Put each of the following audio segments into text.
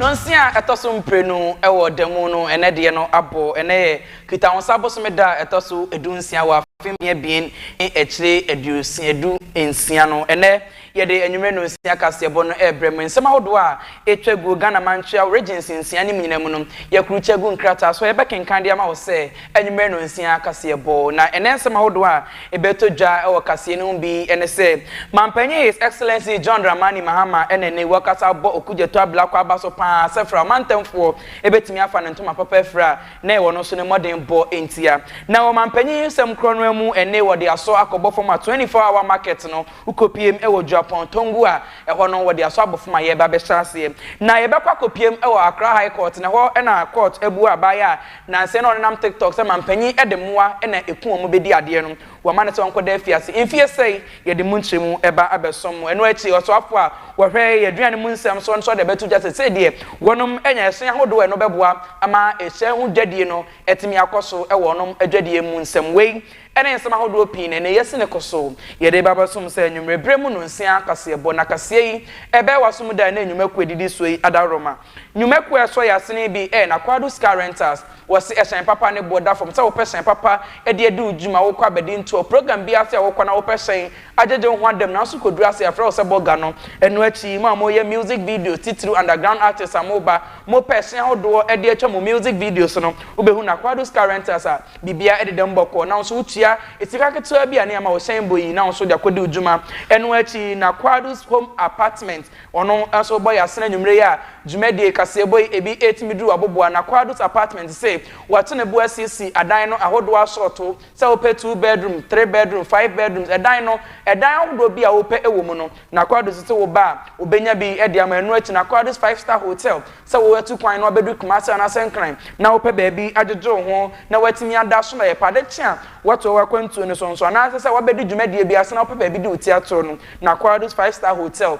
Nnɔnsia a ɛtɔ so mprenu wɔ da mu no, ɛnnɛ deɛ no abɔ. Ɛnnɛ yɛ Kitahwonsa bosome da a ɛtɔ so dunsia wɔ afe mmiɛnmmiɛn ne akyire aduosia du nsia no. Ɛnnɛ Yɛde anwummere nnɔnsia kaseɛbɔ no rebrɛ mo. Nsɛm ahodoɔ a ɛtwa gu Ghana Mantweaw Regency nsia no mu nyinaa mu no, yɛakurukyɛ agu nkrataa so a yɛbɛkenkan de ama wo sɛ anwummere nnɔnsia kaseɛbɔ. Na ɛnnɛ nsɛm ahodoɔ a ɛbɛtɔ dwa wɔ kaseɛ no ho bi ne sɛ, Mampanyin His Excellency John Dramani Mahama na nnɛ yi wakasa abɔ Okudzeto abira kwaaba so pa ara sɛ fra a ɔmantamfoɔ bɛtumi afa ne ntoma papa afiri a na ɛwɔ no so no mmɔdenbɔ ntia. Na wɔ mampanyin yi nsɛm korɔ no ara mu, ɛnne wɔde asɔ akɔbɔ fam a 24 hour market no Wokopiem wɔ Dwurapɔn, Tongu a ɛhɔ no wɔde asɔ abɔfo ma yɛreba abɛhyɛ aseɛ. Na yɛbɛkɔ akɔpiem wɔ Accra High Court, na ɛhɔ na court abu a abaayewa a nansa yi na ɔnenam TikTok sɛ mampanyin de mmoa na ɛku wɔn bɛdi adeɛ no, wɔama no sɛ ɔnkɔda afiase mfeɛ sɛi. Yɛde mo nkyerɛmu ba abɛsom mo. Ɛno akyi, ɔsoafoɔ a ɔhwɛ yɛn aduane mu nsɛm so no nso de abɛto dwa sɛ sei deɛ wɔnom anya ɛhyɛn ahodoɔ a ɛno bɛboa ama ɛhyɛn ho dwadie no atumi akɔ so wɔ wɔnom adwadie mu nsɛm. Wei ne nsɛm ahodoɔ pii na ɛnnɛ yɛasi no kɔ so. Yɛde reba abɛsom sɛ anwummerɛ berɛ mu nnonsia kaseɛbɔ, na kaseɛ yi ɛbɛyɛ w'asom da ɛnnɛ nnwuma kuo a ɛdidi soɔ yi adaworoma. Nnwuma kuo a ɛsɔ yɛn asene yi bi yɛ Nakwado's Car Rentals. Wɔse ɛhyɛn papa ne boɔ da fam sɛ wopɛ hyɛn papa de adi wo dwuma, wokɔ abɛdi ntoɔ, program biara ase a wokɔ na wopɛ hyɛn agyegye wo ho ada mu nanso kɔduru ase a yɛafrɛ wo sɛ bɔ ga no. Ɛno akyi yi, mo a moyɛ music videos, titiriw underground artists a moba, mopɛ ɛhyɛn ahodoɔ de atwa mo music videos no, wobɛhunu Nakwado's Car Rentals a Biribiara deda mu bɔkɔɔ, nanso wotua sika ketewa bi a na yɛma wɔ hyɛn bɔ yi, na nso de akɔdi wo dwuma. Ɛno akyi na Quadus Home Apartment, ɔno nso bɔ yɛ asene anwummere yi a dwumadie kaseɛ bɔ yi ebi ɛretumi duru aboboa. Na Quadus Apartment se wɔato ne bo asiesie adan no ahodoɔ asɔɔto, sɛ wopɛ two bedroom, three bedroom, five bedrooms, ɛdan no, ɛdan ahodoɔ bi a wopɛ wɔ mu no, na Quadus se wo ba a, ɔbɛnya bi de ama. Ɛno akyi na Quadus Five Star Hotel Sɛ woatu kwan na woabedu Kumasi anaasɛ Nkran na wopɛ baabi agyegye wo ho na woatumi ada so na ɛyɛ pɛ a, ade kye a woatoa w'akwantuo no so nso anaa ɛsɛ sɛ woabɛdi dwumadie bi ase na wopɛ baabi di wo ti atoro no, na Quadus Five Star Hotel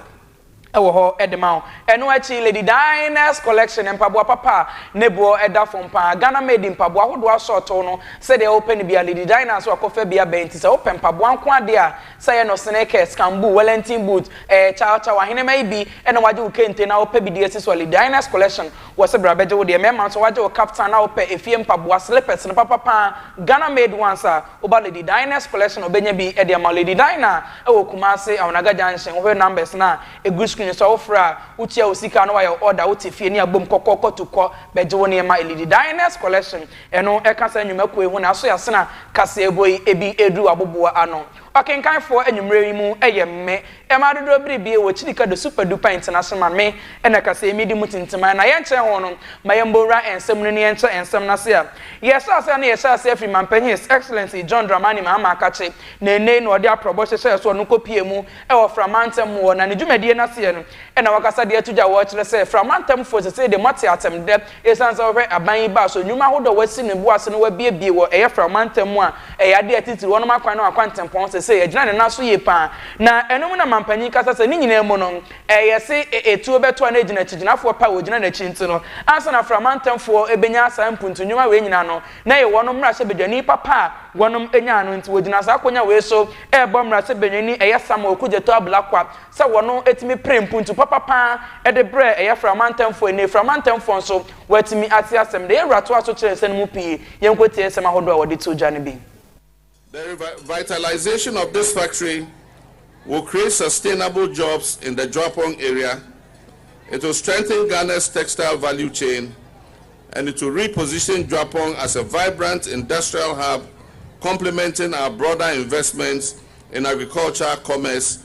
wɔ hɔ de ma wo. Ɛno akyi, Lady Dinah's Collection, mpaboa papa a ne boɔ da fam pa ara, Ghana Made mpaboa ahodoɔ asɔɔtow no, sɛdeɛ wopɛ no biara, Lady Dinah's wɔ akɔfabea bɛn nti, sɛ wopɛ mpaboa nko ara deɛ a, Sɛ yɛ no sneakers, camboo, wellington boot, eh, chow chow, ahenemma yi bi na wɔagye wo kente na wopɛ bi de asi so a, Ledina's Collection wɔ se bra bɛgye wo deɛ. Mmarima nso wɔagye wo kaftan na wopɛ efie mpaboa, slippers no papa pa ara, Ghana made ones a, woba Ledina's Collection a wɔbɛnya bi de ama wo. Ledina wɔ Kumasi, Awonaga Junction, wohwɛ numbers no a ɛgu screen so a, wofrɛ a, wotua wo sika na wɔayɛ wo order, wote fie ne abom kɔkɔɔkɔ tu kɔ bɛgye wo nneɛma. Ledina's Collection, Ɛno ɛka saa nnwumakuo yi ho na aso yɛasena kaseɛbɔ yi ebi ɛreduru aboboa ano. Ɔkenkanfoɔ anwummerɛ yi mu ɛyɛ me, mmaa dodoɔ biribie wɔ Kyirika do super duper international me na kaseɛ yi medi mu tintiman na yɛnkyɛn ho no ma yɛmbɔ nwura nsɛm no ne yɛnkyɛ nsɛm no ase a yɛhyɛ aseɛ no yɛhyɛ aseɛ firi Manpanyin His Excellency John Dramani Mahama Akakye na ɛnnɛyi na ɔde aprɔbɔ hyehyɛɛ so ɔno kɔ pie mu ɛwɔ Fra Mantam mu hɔ na ne dwumadie no aseɛ no ɛna wakasa de ato dwa wɔ kyerɛ sɛ Fra Mantamfoɔ sesei deɛ moate atemdɛ Esiane sɛ wɔhwɛ aban yi baa so nnwuma ahodoɔ a wɔasi ne bo ase no wɔabuebue wɔ ɛyɛ Fra mantam mu a ɛyɛ adeɛ a ɛtitiriw wɔnom akwan ne wɔn akwantempɔn sesei agyina ne nan so yie pa ara na ɛno mu na mampanyin kasa sɛ ne nyinaa mu no ɛyɛ se etuo bɛtoa no agyina akyigyenafoɔ pa a wɔgyina n'akyi nti no ansa na Fra mantamfoɔ bɛnya saa mpuntu nnwuma wei nyinaa no na ɛyɛ wɔnom mmarahyɛbadwani papa a wɔnom nyaa no nti wɔgyina saa akonya wei so rebɔ mmarahyɛbadwani ɛyɛ Samuel Okudzeto Ablakwa sɛ wɔatumi pere mpuntu papa pa ara de brɛɛ ɛyɛ Framantemfoɔ a ɛnnɛ Framantemfoɔ nso wɔatumi ate asɛm no. Yɛwura toaa so kyerɛ nsɛm no mu pii. Yɛnkɔtie nsɛm ahodoɔ a wɔde too dwa no bi. The revitalization of this factory will create sustainable jobs in the Juapong area, it will strengthen Ghana's textile value chain and it will reposition Juapong as a vibrant industrial hub complementing our broader investments in agriculture, commerce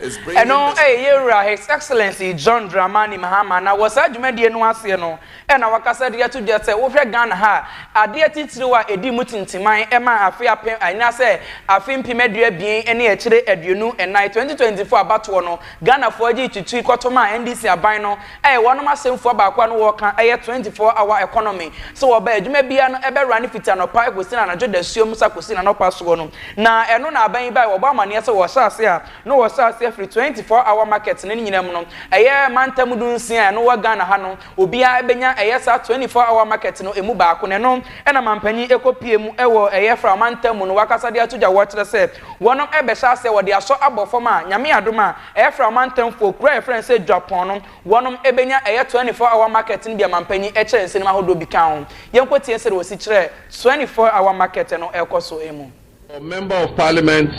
Ɛno ɛyɛ yɛn Wura His Excellency John Dramani Mahama na wɔ saa dwumadie no aseɛ no na wakasa de ato dwa sɛ wohwɛ Ghana ha a, adeɛ titiriw a ɛdi mu tintiman ma afe apem anaasɛ afe mpem aduabien ne akyire aduonu nnan, 2024 abatoɔ no, Ghanafoɔ gye tutui kɔtom a NDC aban no Ɛyɛ wɔnom asɛmfua baako a na wɔka ɛyɛ 24 hour economy sɛ wɔba adwuma biara no ɛbɛ rane fiti anɔpa ɛkɔsi na anadwo dasuom sa kɔsi na nɔpa soɔ no na ɛno na aban yi bae wɔbɔ amaneɛ sɛ wɔhyɛ ase a na wɔhyɛ ase afiri 24 hour market no ne nyina mu no ɛyɛ mantam du nsia a ɛno wɔ Ghana ha no obiara ɛbɛnya ɛyɛ saa 24 hour market no ɛmu baako na ɛno na manpanyin ɛkɔ pie mu ɛwɔ ɛyɛ fra mantam mu no wakasa de ato dwa wɔkyerɛ sɛ Wɔnom ɛbɛhyɛ asɛ wɔde asɔ abɔ fam a, Nyame adom a, ɛɛfra ɔmantam foɔ kuro a yɛfrɛ no sɛ Dwapɔn no, wɔnom ɛbɛnya ɛyɛ 24 hour market no bi a Mampanyin ɛkyerɛ nsɛnim ahodoɔ bi ka ho. Yɛnkɔ tie sɛdeɛ wɔsi kyerɛ 24 hour market no ɛɛkɔ so mu. Our Member of Parliament,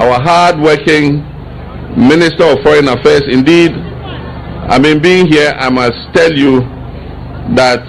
our hard working Minister of Foreign Affairs, indeed, I mean being here, I must tell you that,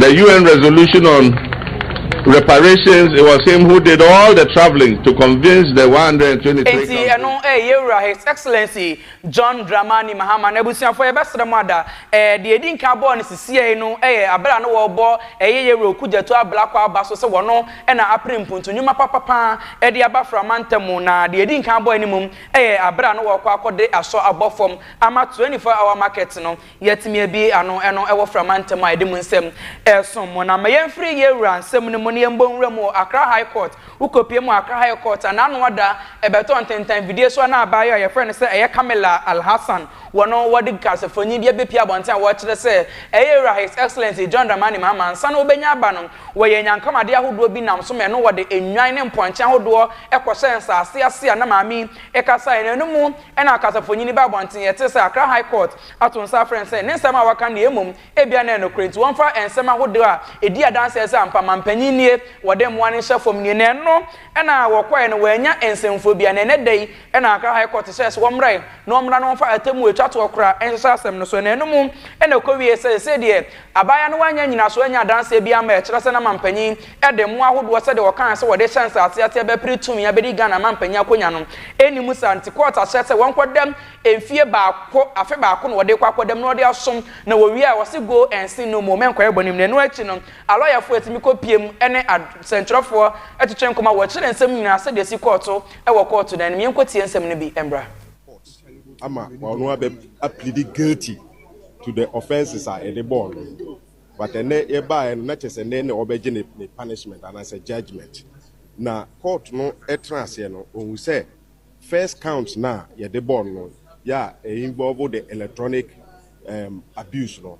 The UN resolution on reparations, it was him who did all the travelling to convince the 123 countries. Enti ɛno ɛyɛ Yɛwura His Excellency John Dramani Mahama na abusuafoɔ yɛbɛsrɛ mo ada ɛɛ deɛ ɛdi nkan bɔɔ no sisiɛi no ɛyɛ abere a na wɔrebɔ ɛyɛ Yɛwura Okudzeto Ablakwa aba so sɛ wɔno ɛna apere mpuntu nnwuma papapaa ɛde aba fra mantam mu na deɛ ɛdi nkan bɔɔ no mmom ɛyɛ abere a na wɔrekɔ akɔde asɔ abɔ fam ama 24 hour market no Yɛatumi abue ano, ɛno wɔ Frama ntam a ɛde mo nsɛm resom mo. Na ma yɛmfiri yɛn wura nsɛm no mu na yɛmmɔ nwura mu wɔ Accra High Court. Wokɔpue mu a, Accra High Court a n'ano ada, ɛbɛtɔ ntentan fidie so a na abaayewa a yɛfrɛ no sɛ ɛyɛ Kamila Alhassan wɔ no, wɔde nkasafonin bi abɛpue abɔnten a wɔrekyerɛ sɛ ɛyɛ Wura His Excellency John Dramani Mahama ansa na wɔbɛnya aba no. Wɔyɛɛ anyankamade ahodoɔ bi nam so ma ɛno wɔde nnwan ne mpɔnkye ahodoɔ kɔhyɛɛ nsase ase a na maame yi kasaeɛ no mu. Ɛnna ɔkasafonyin baa abɔnten, yɛtsee sɛ Accra High Court ato nsa afrɛ no sɛ ne nsɛm a wɔaka no yɛ mmom ebia na ɛyɛ nokwar ntsi wɔmfa nsɛm ahodow a edii adanse a ɛse ampa mampanyin nie wɔde mboa no nhyɛ fam nie na ɛno na wɔkɔe no wɔannya nsɛmfua biara na ɛnnɛda yi na Accra High Court hyɛɛ sɛ wɔmmrae na wɔmmra na wɔmfa atemmu a etwa toɔ koraa nhyehyɛ asɛm no so na ɛno mu na ɛkɔwiee sɛ sesei deɛ abaayewa no wannya nnyinasoɔ annya adanseɛ biara ma ɛkyerɛ sɛ na mampanyin de mmoa ahodoɔ sɛdeɛ wɔkaeɛ sɛ wɔde rehyɛ nsaase aseɛ bɛpere tumi abɛdi Ghana manpanin akonwa no, ɛnni mu saa nti kɔɔt ahyɛ sɛ wɔnkɔdam mfie baako, afe baako na wɔde rekɔ akɔdam na wɔde asom na wɔwie a wɔse go and sin no more, mɛnkɔyɛ bɔne mu na ɛno akyi no alɔyafoɔ atumi kɔpue mu ne asɛntwerɛfoɔ atwetwe nkɔmmɔ a wɔkyerɛ nsɛm no nyinaa sɛdeɛ ɛsi kɔɔ to wɔ kɔɔto dan no mu. Yɛnkɔtie nsɛm no bi mmra. Court ama ɔno abɛ a pleadi guilty to the offences a yɛde bɔɔ no. but ɛnɛ yɛbaeɛ no na kyerɛ sɛ ɛnɛ na wɔbɛgye ne ne punishment anaasɛ judgement na court no ɛtena aseɛ no ɔhu sɛ first count no a yɛde bɔɔ no yɛ a ɛyɛ involve the electronic um, abuse no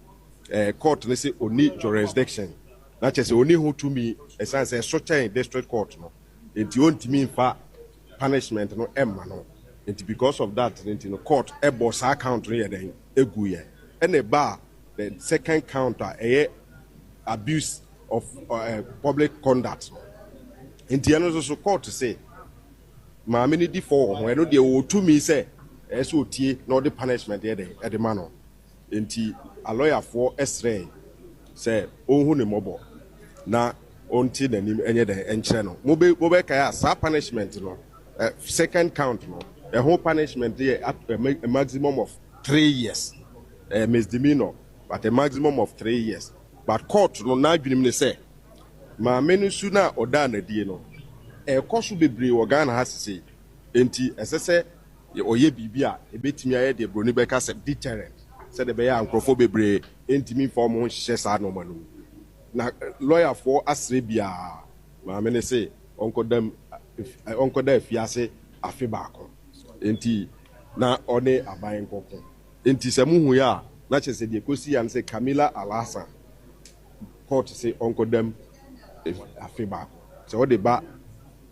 eh, court no sɛ ɔni jurisdiction na kyerɛ sɛ ɔni ho tumi ɛsiane sɛ ɛso kyɛn district court no nti ɔntumi mfa punishment no ɛmma no nti because of that nti no court ɛbɔ saa count no yɛ dɛn ɛgu yɛ ɛna ɛbaa The second count a ɛyɛ abuse of uh, public conduct no nti ɛno nso so court se maame no di fɔ wɔ ho ɛno deɛ wɔtumi sɛ ɛyɛ sɛ ɔtie na ɔde punishment yɛ dɛ ɛde ma no nti alɔyafoɔ srɛe sɛ ɔnhu ne mmɔbɔ na ɔnte n'anim ɛnyɛ dɛ ɛnkyerɛ no mobɛkae a saa punishment no eh, second count no ɛho punishment yɛ a maximum of three years Ɛyɛ misdemeanor but a maximum of three years but court no n'adwenem ne sɛ maame no su no a ɔdaa no adie no ɛrekɔ so bebree wɔ Ghana ha sesei enti ɛsɛ sɛ ɔyɛ biribi a ɛbɛtumi ayɛ deɛ broni bɛka sɛ deterrent sɛdeɛ ɛbɛyɛ a nkorɔfoɔ bebree ɛntumi mfa wɔn ho nhyehyɛ saa nnoɔma no mu na lɔyafoɔ asrɛ biara maame no se ɔnkɔda mu ɔnkɔda afiase afe baako enti na ɔne aban nkɔko. Enti sɛ muhu yɛ a, na kyerɛ sɛ deɛ ɛkɔsii ara ne sɛ Camilla Alhassan kɔɔto se ɔnkɔda mu afe baako. Sɛ ɔde ba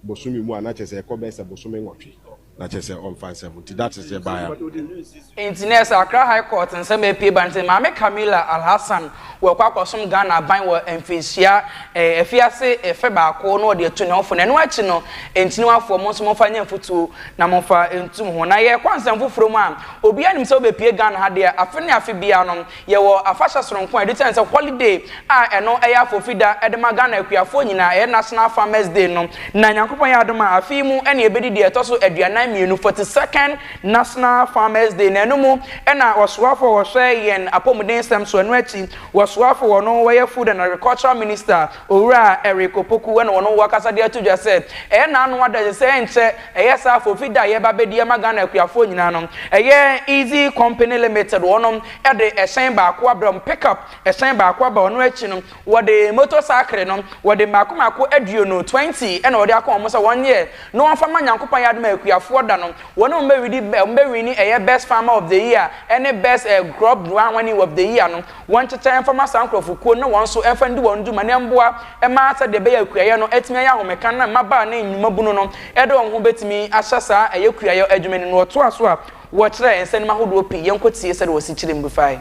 bosome mu a, na kyerɛ sɛ ɛkɔ bɛyɛ sɛ bosome nwɔtwe. Na kyerɛ sɛ ɔmfa nsɛm ho. Nti that is deɛ ɛbaeɛ ara. Enti na ɛsɛ Accra High Court nsɛm a ɛpue ba ne sɛ Maame Camilla Alhassan Wɔkɔ akɔsom Ghana aban wɔ mfirihyia afiase fɛ baako na wɔde atu ne ho fo na ɛno akyi no Ntiniwafoɔ mo nso momfa nyɛ mfutuo na momfa ntu mo ho na yɛrekɔ nsɛm foforɔ mu a obiara nim sɛ wobɛpue Ghana ha deɛ afe ne afe biara no yɛwɔ afahyɛ soronko a yɛde sɛne sɛ holiday a ɛno ɛyɛ afofida de ma Ghana akuafoɔ nyinaa ɛyɛ National Farmers Day no na Nyankopɔn yɛ adom a afe yi mu na yɛbɛdi deɛ ɛtɔ so aduanan mmienu, 42nd, National Farmers Day, na ɛno mu na ɔsoafo a ɔhwɛ yɛn apɔmudensɛm so, ɛno akyi ɔsoafo wɔ no wɔyɛ Food and Agricultural Minister, Owura Eric Opoku na ɔno wakasa de ato dwa sɛ ɛyɛ n'ano adagye sɛ ɛnkyɛ ɛyɛ saa Afofi da a yɛreba abɛdi ama Ghana akuafoɔ nyinaa no, ɛyɛ Easy Company Limited wɔnom de ɛhyɛn baako abrɛ wɔn, pick-up ɛhyɛn baako aba, ɔno akyi no. Wɔde motor sakre no, wɔde mmaako mmaako aduonu, twenty, ɛna wɔde aka wɔn sɛ wɔnyɛ na wɔmfa mma Nyankopɔn ayɛ adom a akuafoɔ da no, wɔn a wɔbɛwidi, wɔbɛwini ɛyɛ best farmer of the year ɛne best eh, crop growing of the year no, wɔnkyekyɛ mfa ma saa nkorɔfokuo no na wɔn nso mfa ndi wɔn dwuma na mmoa mma sɛdeɛ ɛbɛyɛ a akuayɛ no atumi ayɛ ahomeka na mmabaa ne mmabunu no de wɔn ho bɛtumi ahyɛ saa ɛyɛ kuayɛ adwuma no mu. Wɔtoa so a, wɔkyerɛ nsɛnnim ahodoɔ pii. Yɛnkɔtie sɛdeɛ wɔsi kyerɛ mu bi fae.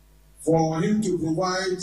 for him to provide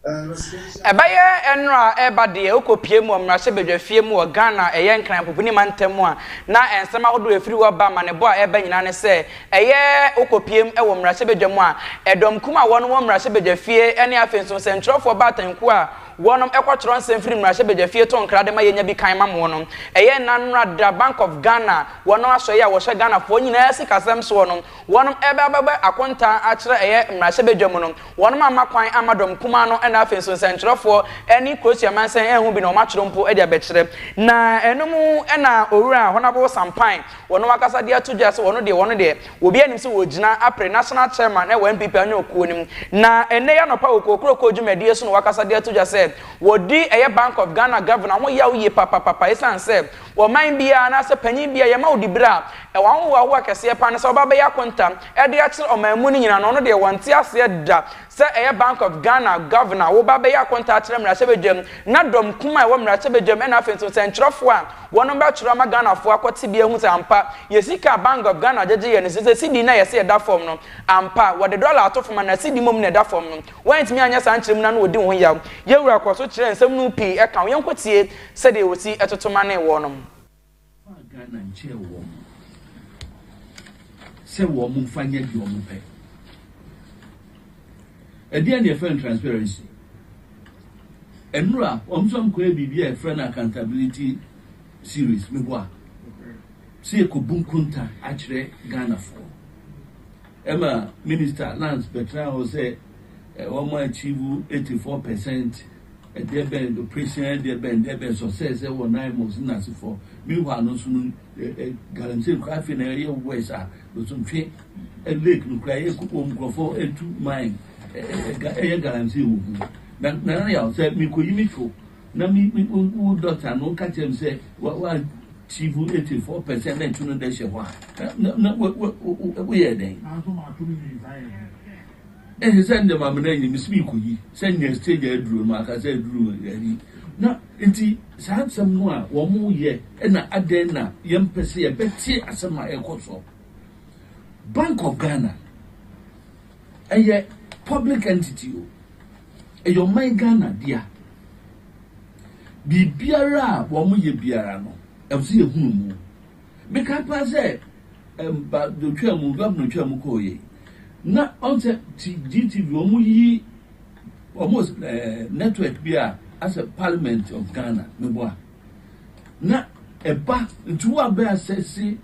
a residential. Ɛbɛyɛ ɛnora a ɛreba deɛ wokɔpue mu wɔ mmarahyɛbadwafie mu wɔ Ghana a ɛyɛ Nkran Mpopuni mantam mu a na nsɛm ahodoɔ a ɛfiri hɔ ba amanebɔ a ɛreba nyinaa ne sɛ ɛyɛ wokɔpue mu wɔ mmarahyɛbadwa mu a ɛdɔm kum a wɔnom wɔ mmarahyɛbadwafie ne afei nso nsɛntwerɛfoɔ baatan kuo a wɔnom kɔtwerɛ nsɛm firi mmarahyɛbadwafie to nkra de ma yɛnya bi kan ma mo no ɛyɛ nna nora da Bank of Ghana wɔnom asɔeɛ a wɔhyɛ Ghanafoɔ nyinaa sikasɛm soɔ no Wɔn ɛbɛ abɛbɛ akontaa akyerɛ ɛyɛ mmarahyɛbadwa mu no, wɔn amma kwan amma dɔm kumaa no ɛna afei nso nsɛnkyerɛfoɔ ɛne Kroatia mansɛn ɛho bi na wɔn atwerɛ mpo de abɛkyerɛ. Na ɛno mu ɛna Owura Honourable Sampae wɔn ankasa de ato dwa sɛ wɔn deɛ wɔn deɛ obiara nim sɛ wɔgyina apere National Chairman ɛwɔ NPP anyɔ kuo no mu. Na ɛnnɛ yi anɔpa wɔ Kokroko dwumadie so na wɔakasa de ato dwa sɛ wɔdi ɛyɛ Bank of Ghana Governor ho yaw yie papapapa ɛsiane sɛ Wɔ ɔman biara anaasɛ panyin biara a yɛma wo dibere a, ɛwɔ ahohoahoa kɛseɛ paa ne sɛ ɔbɛabɛyɛ akontam de akyerɛ ɔman mu no nyinaa na ɔno deɛ wɔnte aseɛ da sɛ ɛyɛ Bank of Ghana Governor wo ba bɛyɛ akonta akyerɛ mmarahyɛbadwam na dɔm kumaa a ɛwɔ mmarahyɛbadwam ɛna afei nso sɛnkyerɛfoɔ a wɔnom bɛtwerɛ ama Ghanafoɔ akɔte bi ahu sɛ ampa yɛ sika a Bank of Ghana gyegye yɛ no sɛ sɛ CD no a yɛse ɛda fam no ampa wɔde dɔla ato fam anaa CD mmom na ɛda fam no woantumi anyɛ saa nkyerɛmu no a na wɔdi wo ho yaw. Yɛwura kɔ so kyerɛ nsɛm no mu pii ɛka ho. Yɛnkɔtie. Sɛdeɛ wɔsi toto mane woɔ no mu. Faa Ghana nkyɛɛ wɔn sɛ wɔn mfa nyɛ deɛ wɔn pɛ. Ɛdeɛn na yɛfrɛ no transparency? Ɛnora wɔn nso wɔn kɔyɛ biribi a yɛfrɛ no accountability series mebɔ a sɛ yɛkɔbu nkonta akyerɛ Ghanafoɔ. Ɛma minister lands bɛtena hɔ sɛ wɔn achieve 84 percent Ɛdeɛ bɛn de operation yɛ ɛdeɛ bɛn deɛ bɛn sɔ sɛ sɛ wɔ nan mɔ si na si fɔ mi hɔ ano nso no ɛ ɛ galamsey kura afei na ɛyɛ wɛs a losomtwe ɛ lake no kura ɛyɛ koko mu nkurɔfo ɛtu man ɛ ɛ ɛyɛ galamsey wɔ mu na na na yà sɛ mi kɔ yi mi to na mi mi wo dɔkta no ka kyerɛ mi sɛ wa wa achieve eighty four percent na ɛtu no dɛ hyɛ hɔ a na na na wo wo wo yɛ dɛn. Ehe sɛ ndɛ ma mena nye mesi mekoyi sɛ nya stage a eduru no aka sɛ eduru ayi na nti saa nsɛm no a wɔn yɛ na adɛn na yɛn mpɛ sɛ yɛbɛte asɛm a ɛkɔ so bank of ghana ɛyɛ public entity o ɛyɛ ɔman ghana dea biribiara a wɔn yɛ biara no ɛwɔ sɛ yɛhunu mu Meka paa sɛ mba do twaa mu, governor twaa mu kɔɔ yie na ɔn sɛ GTV ɔmo yi ɔmo ɛɛ network bi a asɛ parliament of Ghana me boa na ɛba nti wo a bɛ asɛse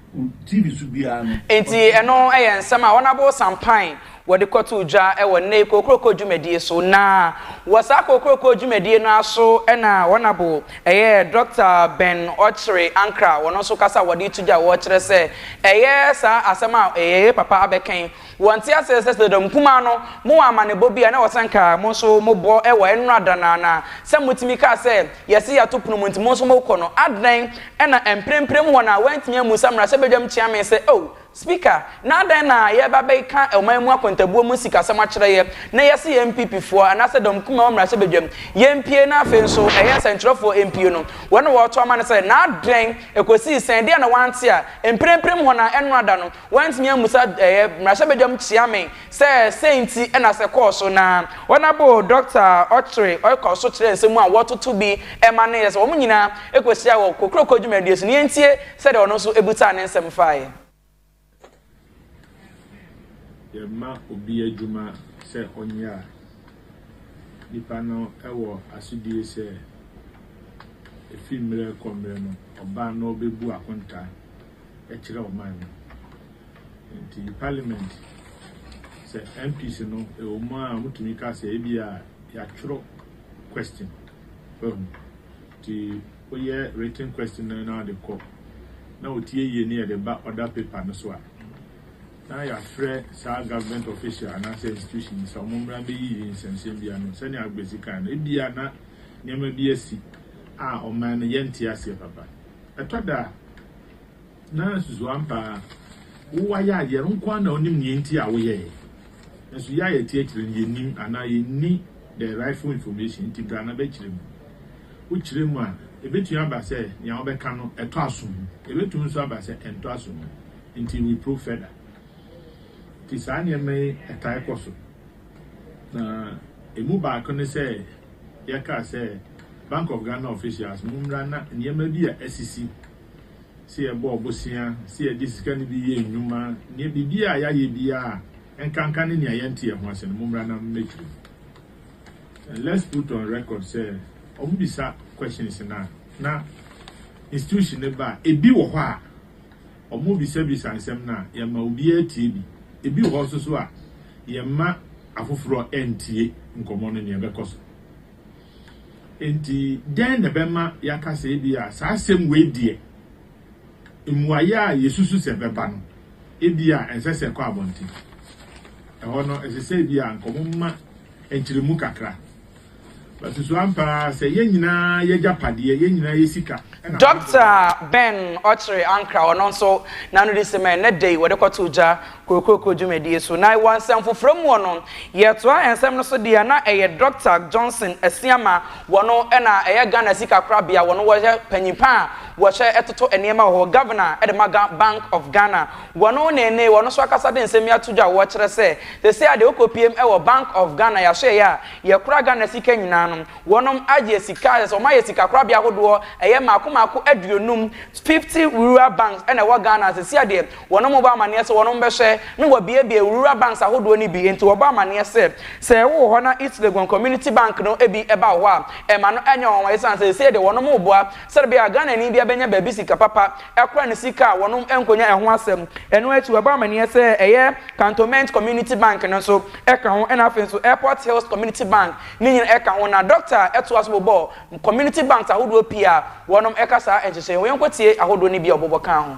TV so biara no. Enti ɛno yɛ nsɛm a Honourable Sampain wɔde kɔtoo dwa wɔ nnɛyi kokroko dwumadie so na wɔ saa kokroko dwumadie no ara so na Wɔnabo yɛ Dɔkta Ben Ɔkyere Ankrah wɔn nso kasa a wɔde reto dwa wɔ kyerɛ sɛ ɛyɛ saa asɛm a yɛyɛ papa abɛkɛn wɔ nte aseɛ sɛ sɛ dɔm nkumaa no mo wɔ amanebɔ bi a na wɔ sɛ nka mo nso mo bɔ wɔ ɛnora da no ara na sɛ mo tumi kaa sɛ yɛse yɛato pono mu nti mo nso mo kɔ no adɛn na mprempren wɔn a wɔantumi ammu sa mmarahyɛbadwam kyeame sɛ oh Speaker, na adɛn na yɛreba abɛkeka ɔman mu akontabuo mu sikasɛm akyerɛ yɛ, na yɛse yɛ NPP foɔ, anaasɛ dɔm kumaa mmarahyɛbadwam, yɛmpie na afei nso ɛyɛ nsɛnkyerɛfoɔ mpie no, wɔn na wɔreto ama no sɛ, na adɛn, ɛkɔsii sɛn, deɛ na wante a, mprempren hɔ no a, ɛnora da no, wantumi ammusa ɛyɛ mmarahyɛbadwam Kyeame sɛ sɛn nti na sɛ kɔɔ so na wɔabo Dɔkta Ɔkyere Ɔkɔ so kyerɛ nsɛm mu a wɔtoto bi ma no yɛ sɛ wɔn nyinaa kɔhyiaa wɔ kokroko dwumadie so, na yɛntie Sɛdeɛ ɔno nso busaa ne nsɛm faeɛ. Yɛma obi adwuma sɛ ɔnyɛ a, nipa no wɔ asodie sɛ ɛfiri mmerɛ kɔ mmerɛ no, ɔba na ɔbɛbu akontaa kyerɛ ɔman no. Nti Parliament, sɛ MPs no, ɛwɔ mu a wɔtumi ka sɛ ebia yɛatwerɛ question, wahu. Nti. Woyɛ written question no na ɔde kɔ na otie yie na yɛde ba order paper no so a, na yɛafrɛ saa government official anaasɛ institution no sɛ wɔmmra mmɛyiyi nsɛmnsɛm bi ano. Sɛnea Agbesi kae no, ebia na nneɛma bi asi a ɔman no yɛnte aseɛ papa. Ɛtɔ da a, Na susu ampa a wo wayɛ a yɛn nko ara na onim nea enti a woyɛe. Nanso yɛ a yɛte akyire no yennim anaa yenni the rightful information nti bra na bɛkyerɛ mu. Wokyerɛ mu a, ebetumi aba sɛ nea wobɛka no ɛtɔ asom. Ebetumi nso aba sɛ ɛntɔ asom. Enti we probe further. Nti saa nneɛma yi ɛtae kɔ so. Na emu baako ne sɛ yɛkaa sɛ Bank of Ghana officials mommra na nneɛma bi a asisi. sɛ yɛbɔ bosea, sɛ yɛde sika no bi yɛ nnwuma, nea biribiara a yɛayɛ biara a ɛnkanka ne nea yɛnte yɛn ho ase no, mommra na mɛkyerɛ mu. And let's put on record sɛ wɔbisa questions no a, na institution no ba a, ebi wɔ hɔ a wɔbisabisa nsɛm no a, yɛma obiara tie bi. Ebi wɔ hɔ nso so a, yɛmma afoforɔ ntie nkɔmmɔ no nea ɛbɛkɔ so. Enti, dɛn na ɛbɛma yɛaka sɛ ebia saa asɛm wei deɛ, mmuaeɛ a yɛsusu sɛ ɛbɛba no, ebia ɛnsɛ sɛ ɛkɔ abɔnten? Ɛhɔ no, ɛsɛ sɛ ebia anka wɔma nkyerɛmu kakra. Bɛsusu ampa ara sɛ yɛn nyinaa yɛ agyapadeɛ, yɛn nyinaa yɛ sika. Dɔkta Ben Ɔkyere Ankrah, ɔno nso, n'anodi sɛmɛn, na ɛdɛ yi wɔde kɔtoo gya Kokroko dwumadie so. Na wɔ nsɛmfofrɛ muɔ no, yɛtoa nsɛm no so deɛ na ɛyɛ Dɔkta Johnson Asiamah wɔno na ɛyɛ Ghana Sika Korabea wɔno wɔyɛ panyimpa a wɔhwɛ ɛtoto nneɛma wɔ hɔ, Governor de ma Ga Bank of Ghana wɔno na ɛnee wɔno nso akasa de nsɛm yi ato dwa wɔkyerɛ sɛ sɛsɛɛ a deɛ wokɔ piem wɔ Bank of Ghana yɛahwɛɛyɛ a yɛkora Ghana sika nyinaa no wɔnom ayɛ sika a sɛsɛ wɔayɛ sika korabea ahodoɔ ɛyɛ maako maako aduonum, fifty, Rural Banks na ɛwɔ Ghana sɛsɛɛ a deɛ Wɔn mu bɔ amanneɛ sɛ wɔn bɛhwɛ na wɔabuebue Rural Banks ahodoɔ no bi, enti wɔbɔ amanneɛ sɛ, sɛ wowɔ hɔ na East Legon Community Bank no bi ba wo hɔ a, mma no nyɛ nwanwa ɛsiane sɛ seesei deɛ wɔn reboa sɛdeɛ ɛbɛyɛ a Ghanani biara bɛnya baabi sika papa kora ne sika a wɔn nkɔnya ɛho asɛm. Ɛno akyi wɔbɔ amanneɛ sɛ ɛyɛ Cantonment Community Bank no nso ka ho ɛna afei nso Airport Hills Community Bank no nyinaa ka ho na Dɔkta toa so bobɔɔ Community Banks ahodoɔ pii a wɔn ka saa nhyehyɛeɛ ho. Yɛnkɔtie ahodoɔ no bi a ɔbobɔ kaa ho.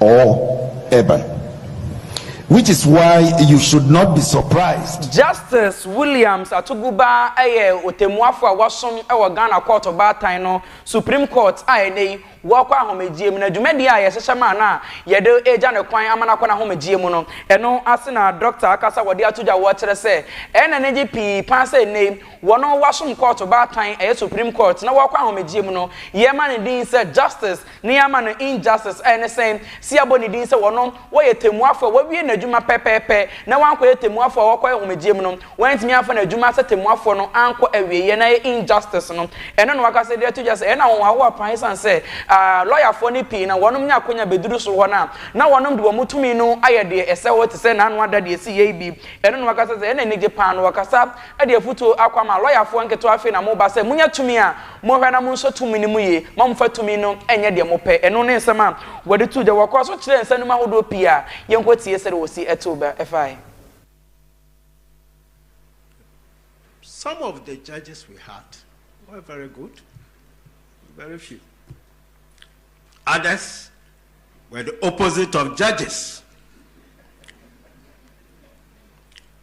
Or Urban. Which is why you should not be surprised. Justice Williams Atuguba yɛ ɔtɛmmuafo a wasom wɔ Ghana Court Ɔbaatan no, Supreme Court, a ɛnnɛ yi wakɔ ahomegyeɛ mu, na dwumadie a yɛhyehyɛ maa no a yɛde regya no kwan ama no akɔ n'ahomegyeɛ mu no, ɛno ase na Dɔkta akasa wɔde ato dwa wɔ kyerɛ sɛ ɛyɛ no anigye pii paa sɛ ɛnnɛ yi wɔn a wɔasom Court Ɔbaatan, ɛyɛ Supreme Court, na wɔkɔ ahomegyeɛ mu no, yɛma no din sɛ Justice. Ne ama no injustice a ɛne sɛ se yɛabɔ ne din sɛ ɔno wɔyɛ temmuafo a wawie n'adwuma pɛpɛɛpɛ na wankɔyɛ temmuafo a ɔkɔ ahomegyeɛ mu no, wantumi amfa n'adwuma sɛ temmuafoɔ no ankɔ awieɛ na ɛyɛ injustice no. Ɛno na w'akasa de ato dwa sɛ ɛyɛ no ahohoahoa paa esiane sɛ aah lɔyafoɔ no pii na wɔnom nya akwanya bɛduru soro hɔ no a na wɔnom de wɔn tumi no ayɛ deɛ ɛsɛ hɔ te sɛ n'ano ada deɛ ɛsiyɛ yi bi. Ɛno na w'akasa sɛ ɛyɛ no anigye paa na w'akasa de afutuo akɔ ama lɔyafoɔ nketewa afei na moba sɛ monya tumi a monhwɛ na monsɔ tumi no mu yie ma momfa tumi no nyɛ deɛ mopɛ ɛno ne nsɛm a wɔde too dwa wɔkɔɔ so kyerɛɛ nsanum ahodoɔ pii a yɛnkɔtie sɛdeɛ wɔsi too ba ɛfae. Some of the judges we had were very good, very few. Others were the opposite of judges.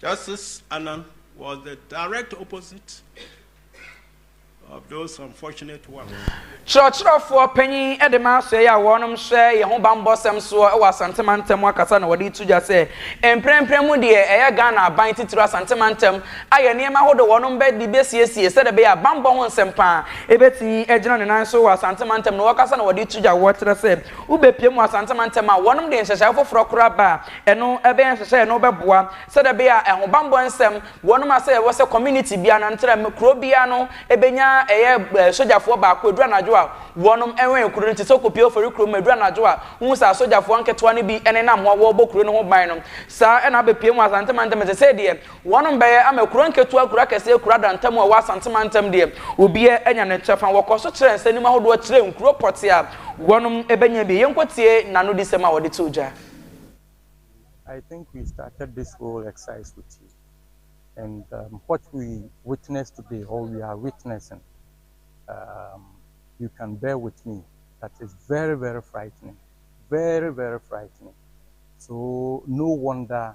Justice Annan was the direct opposite of those unfortunate ones. Kyerɛkyerɛfoɔ panyin de ma asoɛeɛ a wɔnom hyɛ yɛn ho bammɔsɛm soɔ wɔ Asante mantam mu akasa na wɔde to dwa sɛ mprempren mu deɛ ɛyɛ Ghana aban titiriw Asante mantam ayɛ nneɛma ahodoɔ wɔnom bɛde bɛsiesie sɛdeɛ ɛbɛyɛ a bammɔ ho nsɛmpa bɛtumi agyina ne nan so wɔ Asante mantam na wɔkasa na wɔde to dwa wɔkyerɛ sɛ Wobepue mu Asante mantam a, wɔnom de nhyehyɛe foforɔ koraa ba a, ɛno ɛbɛyɛ nhyehyɛe no bɛboa sɛdeɛ ɛbɛyɛ a ɛhobanbɔ nsɛm, wɔnom asɛ ɛwɔ sɛ community biara no antra mu, kuro biara no ɛbɛnya ɛyɛ eh, sogyafoɔ baako ɛduru anadwo a wɔnom ɛwɛn kuro no, te sɛ wokɔpue Ofori kuro mu ɛduru anadwo a, wohu sɛ asogyafoɔ nketewa no bi ɛnenam hɔ wɔrebɔ kuro no ho ban no, saa ɛna abepue mu Asante mantam, ɛsɛ sɛ deɛ Wɔnom bɛyɛ ama kuro nketewa, kuro akɛseɛ, kuro adantam mu a ɛwɔ Asante mantam deɛ, obiara anya ne kyɛfa. Wɔkɔɔ so kyerɛɛ nsɛnnim ahodoɔ kyerɛɛ nkuro pɔtee a wɔnom bɛnya bi. Yɛnkɔtie n'anodisɛm a ɔde too dwa. I think we started this whole exercise with you and um, what we witnessed today or we are witnessing um, you can bear with me that is very very frightening very very frightening so no wonder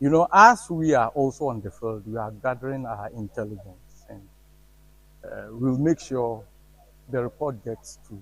You know as we are also on the field we are gathering our intelligence and we'll make sure the report gets to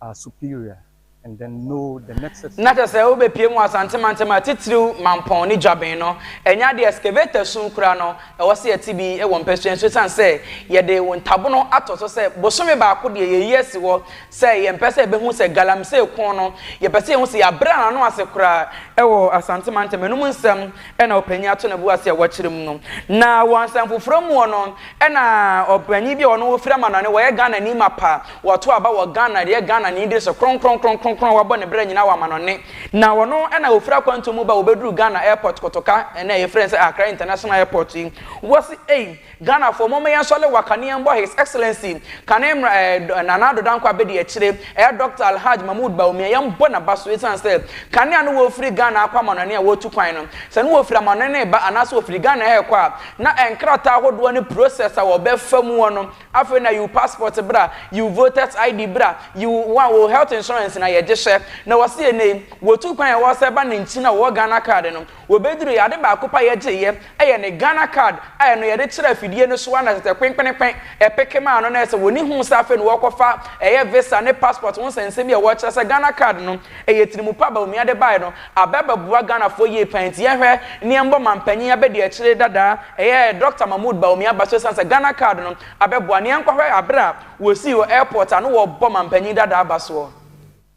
our superior and then know the nexus. Na kyerɛ sɛ wobɛpie mu Asante mantam a titiriw Mampɔn ne Dwaben no, ɛnyɛ adeɛ a excavator sum kura no, ɛwɔ sɛ yɛte bi wɔ mpasua nso ɛsiane sɛ yɛde wo ntabono ato so sɛ bosome baako deɛ yɛyi asi hɔ Sɛ yɛmpɛ sɛ yɛbɛhu sɛ galamsey ko no, yɛpɛ sɛ yɛhu sɛ yɛabrɛ yɛn ano ase koraa wɔ Asante mantam anom nsɛm na ɔpanyin ato ne bo ase a wakyerɛ mu no. Na wɔ nsɛmfoforo mu no, na ɔpanyin bi a ɔno ɔfiri Amanɔne, wɔyɛ Ghanani mapa, wato aba wɔ Ghana de yɛ Ghanani diri so kronkron kronkron a wabɔ ne bra nyinaa wɔ Amanɔne. Na ɔno na ɔfiri akwantuo mu ba a ɔbɛduruu Ghana airport Kotoka, ɛnnɛ a yɛfrɛ no sɛ Accra International Airport yi, wɔ se ei, Ghanafoɔ momma yɛn sɔle waka ne yɛn bɔ His Excellency kane mmra eh dɔ Nana Addo Dankwa abɛdi akyire eh Doctor Alhaj Mahmood Bawumia yɛn bɔ naba so esiane sɛ kane a ne wɔ firi Ghana akɔ amanɔne a wɔtu kwan no sɛ ne wɔ firi amanɔne reba anaa sɛ ɔfiri Ghana ɛhɛ rekɔ a na eh nkrataa ahodoɔ ne process a wɔ bɛ fa muɔ no afei na yiw passport bra yiw voters ID bra yiw wa wo health insurance na yɛ gye hyɛ na wɔ se ɛnɛ yi wɔ tu kwan a wɔ sɛ ba ne nkyi na wɔ wɔ Ghana card no Wɔbɛduruiɛ, ade baako pɛ a yɛgyeeɛ yɛ ne Ghana card a ɛno yɛde kyerɛ afidie no so ara na tɛtɛ kpenkpenenkpen ɛpeke maa no na ɛsɛ wɔ'ni huu sɛ afei na wɔ'rekɔfa ɛyɛ visa ne passport ho nsɛnsɛm bi a ɛwɔ kyerɛ sɛ Ghana card no ɛyɛ tirimu pa Bawumia de baeɛ no abɛ abɛboa Ghanafoɔ yie paa nti yɛnhwɛ ne yɛnbɔ manpanin abɛdiakyire dada ɛyɛ Doctor Mahmood Bawumia ba so esiane sɛ Ghana card no abɛboa no yɛnkɔhwɛ aberɛ a wɔ'sii wɔ airport a na wɔ'rebɔ manpanin dada aba soɔ.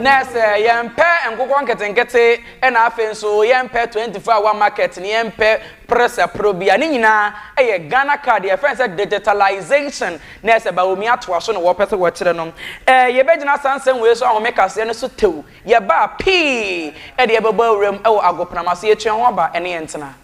na sɛ yɛmpɛ nkokɔ nketenkete na afei nso yɛmpɛ 24 hour market ne yɛmpɛ prɛsɛporɔ bi a ne nyinaa yɛ ghana card yɛfrɛ sɛ digitalization na ɛsɛ baomi atoa so na wɔpɛ sɛ wɔkyerɛ no eh, yɛbɛgyina saa nsɛm wei so ahome kaseɛ no so tew yɛbaa pii ɛde yɛbɛbɔ awuram wɔ agopenama so yɛtua ho aba ɛne yɛntena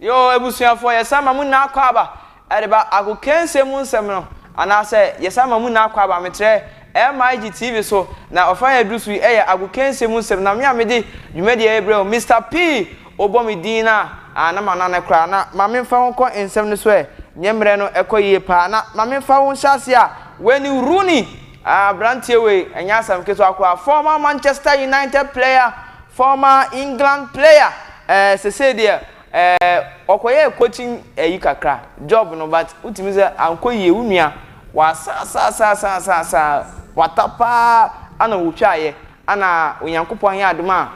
Yo, abusuafoɔ, yɛsan ma mo nyinaa akɔ aba ɛde ba akokansie mu nsɛm no, anaasɛ yɛsan ma mo nyinaa akɔ aba metrɛ MIG TV so, na ɔfa a yɛduru so yi ɛyɛ akokansie mu nsɛm, na me a mede dwumadie yi rebrɛ wo Mister P. Wobɔ me din no a, ah, na manane koraa, na ma memfa wo nkɔ nsɛm no so ɛ, nyɛ mmerɛ no ɛkɔ yie paa, na ma memfa wo nhyɛaseɛ a, Wayne Rooney. Aberanteɛ wei ɛnyɛ asɛm ketewa koraa, former Manchester United player, former England player, ɛɛ sesei deɛ ɛɛ ɔkɔyɛɛ coaching ɛyi kakra, job no but wotumi sɛ ankɔ yie, wo nua wasa asa asa asa asa asa kwata paa ɛna wotwaeɛ ɛna Onyankopɔn ayɛ adom a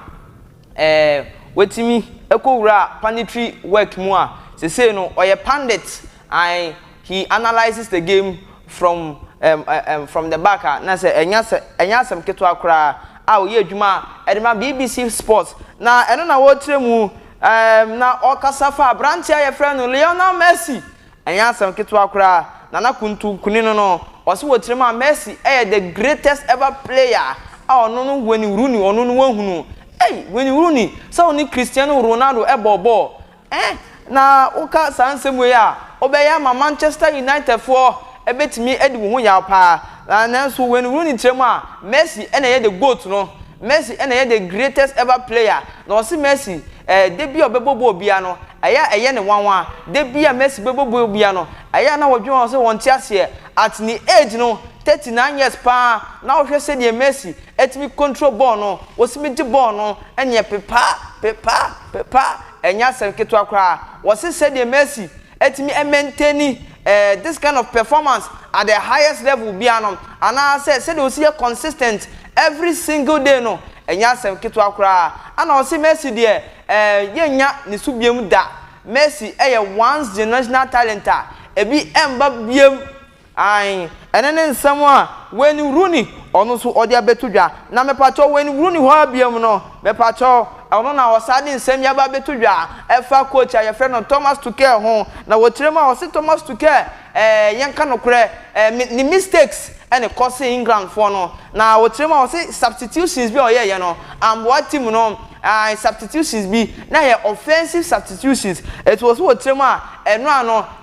ɛɛ watumi ɛkɔ wuraa punditry work mu a sesei no ɔyɛ pundit Ae, he analyses the game from um um from the back a na sɛ ɛnyɛ asɛ ɛnyɛ asɛm ketewa koraa a ɔyɛ adwuma de ma bbc Sport na ɛno na ɔrekyerɛ mu um na ɔrekasa fa aberanteɛ a yɛfrɛ no Lionel Messi. Ɛnyɛ asɛm ketewa koraa na na kuntunkuni no no ɔse wɔ tirim a Messi yɛ the greatest ever player a ɔno no Wayne Rooney ɔno no wahunu ei Wayne Rooney sɛ ɔne Cristiano Ronaldo bɔɔ bɔɔl Ɛɛ na woka saa nsɛm wei a, wobɛyɛ ama Manchester Unitedfoɔ bɛtumi adi wo ho yaw pa ara. Nanso Wayne Rooney kyerɛ mu a, Messi na ɛyɛ the goat no. Messi na ɛyɛ the greatest ever player. Na ɔse Messi, ɛɛ da biara a ɔbɛbɔ bɔɔl biara no, ɛyɛ a ɛyɛ no nwanwa. Da biara a Messi bɛbɔ bɔɔl biara no, ɛyɛ a na wɔdwene ho sɛ wɔnte aseɛ. At ne age no, 39 years pa ara, na wohwɛ sɛdeɛ Messi Ɛtumi control bɔɔl no, wɔtumi gye bɔɔl no nyɛ pepaa, pepaa, pepaa, ɛnyɛ asɛm ketewa koraa. Wɔse sɛdeɛ Messi atumi a maintain eh, this kind of performance at the highest level biara no, anaasɛ sɛdeɛ ɔsi yɛ consistent every single day no, ɛnyɛ asɛm ketewa koraa. Ɛna wɔse Messi deɛ eh, yɛnnya ne so biam da. Messi yɛ once generational talent a ɛbi ɛmba biam Ae, ɛno ne nsɛm a Wayne Rooney, ɔno nso ɔde abɛto dwa. Na mepakyɛw, Wayne Rooney hɔ ara bio no, mepakyɛw, ɛno na ɔsan de nsɛm yi aba abɛto dwa, ɛfa coach a wɔfrɛ no Thomas Tuchel ho. Na wɔ tire mu a, ɔse Thomas Tuchel, eh, yɛnka nokorɛ, eh, me, ne mistakes na ɛkɔsee Englandfoɔ no. Na wɔ tire mu a, ɔse substitutions bi a ɔyɛeɛ no, amboa team no, ae, substitutions bi, na ɛyɛ offensive substitutions, enti ɔse wɔ tire mu a, ɛno ano,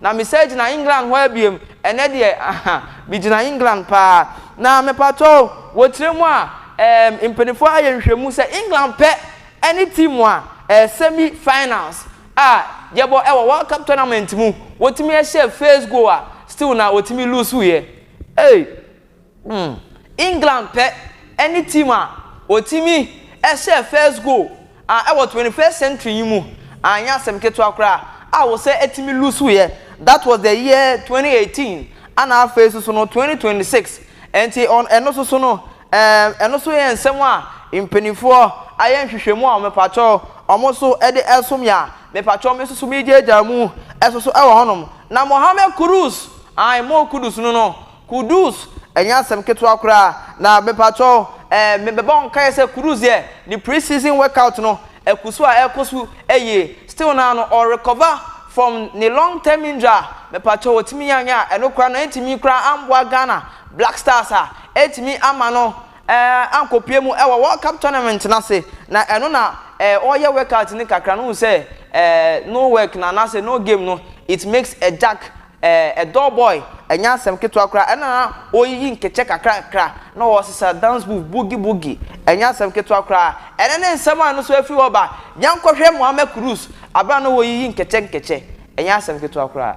Na me sɛ gyina England hɔ abiem ɛnɛ deɛ aha me gyina England paa na mepatɔ o wɔ tire mu a ɛɛm mpanifoɔ ayɛ nhwɛmu sɛ England pɛ ɛne team a ɛɛ semi finals a yɛbɔ ɛwɔ world cup tournament mu wɔtumi ɛhyɛ first goal a still na wɔtumi lose yɛ ee. England pɛ ne team a otumi hyɛɛ first goal a ɛwɔ twenty first century yi mu, anyɛ asɛm ketewa koraa a wɔsan tumi lose yɛ, that was the year twenty eighteen ɛna afei nso so no twenty twenty six nti ɛno nso so no ɛɛm ɛno nso yɛ nsɛm a mpaninfoɔ ayɛ nhwehwɛmu a mepakyɛw wɔn nso de ɛso me a mepakyɛw me nso so megyaagyaa mu ɛso so ɛwɔ hɔnom na Mohammed Kudus ae Mo Kudus no no. Kudus ɛnyɛ asɛm ketewa koraa na mepakyɛw eh me bɛbɔ nkaeɛ sɛ Kudus deɛ ne pre season workout no ɛkusu a ɛkɔ so yie still naa no ɔ recover from ne long term injury a mepakyɛw ɔtumi yɛ anyɛ a ɛno koraa no antumi koraa amboa Ghana Black Stars a antumi ama no eh ankɔpue mu wɔ World Cup tournament no ase na ɛno na eh ɔyɛ workout no kakra no wohu sɛ eh no work no anaasɛ no game no it makes a jack Ɛɛ Doll Boy, ɛnyɛ asɛm ketewa koraa. Ɛnna na wɔreyiyi nkekyɛ kakrakra, na wɔresesa dance move, boogie boogie. Ɛnyɛ asɛm ketewa koraa. Ɛnnɛ ne nsɛm a ɛno nso afiri hɔ ba, yɛnkɔhwɛ Mohammed Kudus, bere a na wɔreyiyi nkekyɛ nkekyɛ. Ɛnyɛ asɛm ketewa koraa.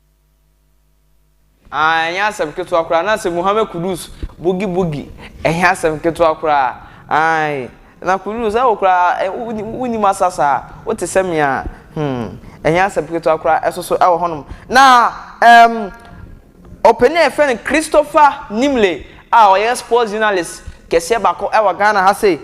Aah ɛnyɛ asɛm ketewa koraa na sɛ Muhammad Kudus boogie boogie ɛnyɛ asɛm ketewa koraa aah na Kudus ɛwo koraa wonim asa saa wote sɛ me a hmm ɛnyɛ asɛm ketewa koraa ɛsoso ɛwɔ hɔnom na ɛɛm ɔpanin a yɛfrɛ no Christopher Nimley a ɔyɛ sports journalist kɛseɛ baako ɛwɔ Ghana ha sei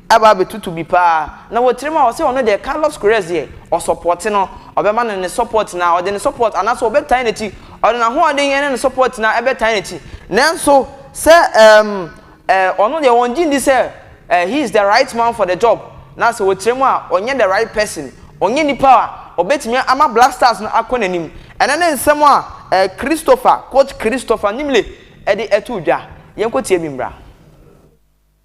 aba abɛtutu bi paa na wɔtirim a ɔse ɔno deɛ Carlos Queiroz deɛ ɔsɔpɔte no ɔbɛma no ne support na ɔde ne support anaasɛ ɔbɛtan n'akyi ɔde n'ahoɔden ɛne ne support nyinaa ɛbɛtan n'akyi nanso sɛ ɛɛm ɛɛ ɔno deɛ wɔn gye ndi sɛ ɛɛ he is the right man for the job na sɛ wɔtirim a ɔnyɛ the right person ɔnyɛ nipa a ɔbɛtumi ama Black Stars no akɔ n'anim ɛno ne nsɛm a ɛɛ Christopher coach Christopher Nimle ɛde ɛtoo dwa yɛnkɔtie bi mmra.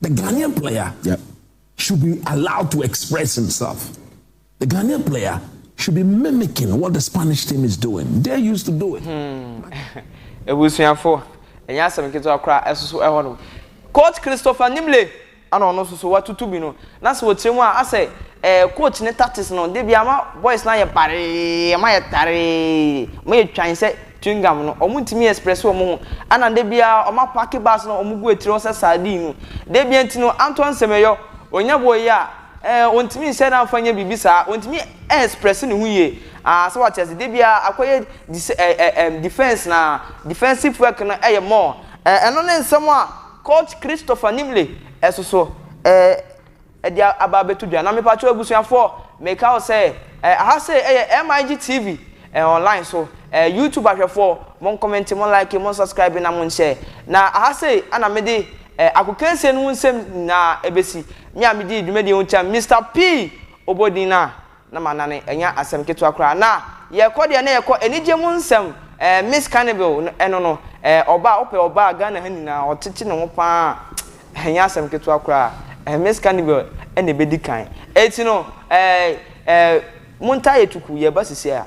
The Ghanaian player yep. should be allowed to express himself. The Ghanaian player should be mimicking what the Spanish team is doing. They used to do it. Hmm. Ebusuafo, ɛnyɛ asɛm ketewa koraa ɛsoso ɛhɔ nom. Coach Christopher Nimle ana ɔno nso so watutu bi no na sɛ wɔkyerɛ mu a asɛ ɛɛ eh, coach ne tactics no de bi ama boys na yɛ baree ma yɛ taree ma yɛ twan sɛ chewing gum no ɔmo ntumi express ɔmo ho ɛna da biaa ɔmo apake bags no a ɔmo gu akyire hɔ sɛ sardine no da bia nti no antɔ nsɛmɛyɔ ɔnya boɔ yi a ɛɛ ɔntumi nhyɛ no amfa nyɛ biribi saa ɔntumi express ne ho yie aah sɛ wate aseɛ da biaa akɔyɛ dis ɛɛ ɛɛm defense na defensive work no yɛ more ɛɛ ɛno ne nsɛm a coach Christopher Nimley ɛsoso ɛɛ. de aba abɛto dwa. Na mepakyɛw abusuafoɔ, meka wo sɛ, ɛɛ, aha sei ɛyɛ MIG TV, ɛɛ, online so, ɛɛ, YouTube ahwɛfoɔ, mo nkɔmɛnte, mo like, mo nsubscribe na mo nhyɛ. Na aha sei ɛna mede, ɛɛ, akokansie no ho nsɛm nyinaa ɛbɛsi. Me a medii dwumadie ho kyɛm, Mister P. Obodin no a. Na m'anane, ɛnyɛ asɛm ketewa koraa. Na yɛkɔ deɛ na yɛkɔ anigye mu nsɛm ɛɛ Miss Carnival no ɛno no ɛɛ ɔbaa wopɛ ɔbaa Ghana ha nyinaa ɔtete ne ho paa ɛnyɛ asɛm ketewa koraa ɛɛ Miss Carnival ɛna ɛbɛdi kan ɛti no ɛɛ ɛɛ montaa yɛ tuku yɛreba sisiɛ a.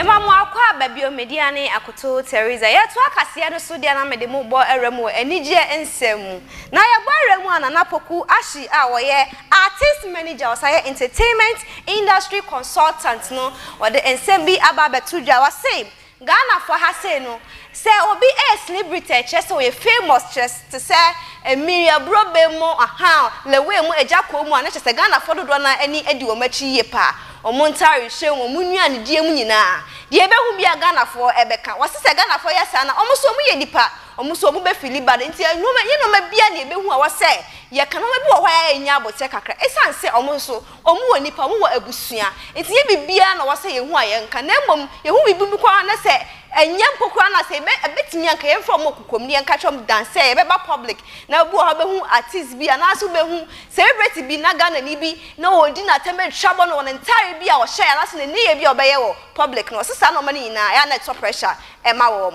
Yɛma mo akɔ aba bio, me dea ne Akoto Theresa. Yɛtoa kaseɛ no so dea na mede mo bɔ awura mu wɔ anigyeɛ nsɛm mu. Na yɛbɔ awura mu a Nana Poku Ashie a ɔyɛ Artist Manager, ɔsan yɛ Entertainment Industry consultant no ɔde nsɛm bi aba abɛto dwa, ɔse, Ghanafoɔ ha sei no, sɛ obi yɛ celebrity a ɛkyerɛ sɛ ɔyɛ famous kyerɛ te sɛ Miri Aburobem mu, ahaa, Leway mu, Agyakɔɔ mu a na kyerɛ sɛ Ghanafoɔ dodoɔ no ara ani di wɔn akyi yie pa ara, wɔn ntaarehyɛ mu, wɔn nnuanedie mu nyinaa, deɛ yɛbɛhu biara Ghanafoɔ bɛka. Ɔse sɛ Ghanafoɔ yɛ saa no a, wɔn nso wɔyɛ nnipa, wɔn nso wɔn bɛ feel bad, nti nnoɔma, ɛnyɛ nnoɔma biara na yɛbɛhu a ɛwɔ sɛ yɛka, nnoɔma bi wɔ hɔ a ɛyɛ a ɛnya aboterɛ kakra, ɛsiane sɛ wɔn nso Wɔn wɔ nnipa, wɔn wɔ abusua, nti nyɛ biribiara na wɔsɛ yɛhu a yɛnka, na mmom yɛhu biribi mpo koraa na sɛ ɛnyɛ mpo koraa na sɛ yɛbɛ ɛbɛtumi a nka yɛmfa wɔn wɔ kokoam na yɛnka kyerɛ wɔn dan sɛ yɛbɛba public na ebi wɔ hɔ wobɛhu artist bi anaasɛ wobɛhu celebrity bi na Ghanani bi na ɔredi n'atɛm atwa bɔ no wɔ ne ntaare bi a ɔhyɛ anaasɛ ne nneyɛɛ bi a ɔbɛyɛ wɔ public no wɔsɛ saa nnoɔma no nyinaa ɛyɛ a na ɛtɔ pressure ɛma wɔn.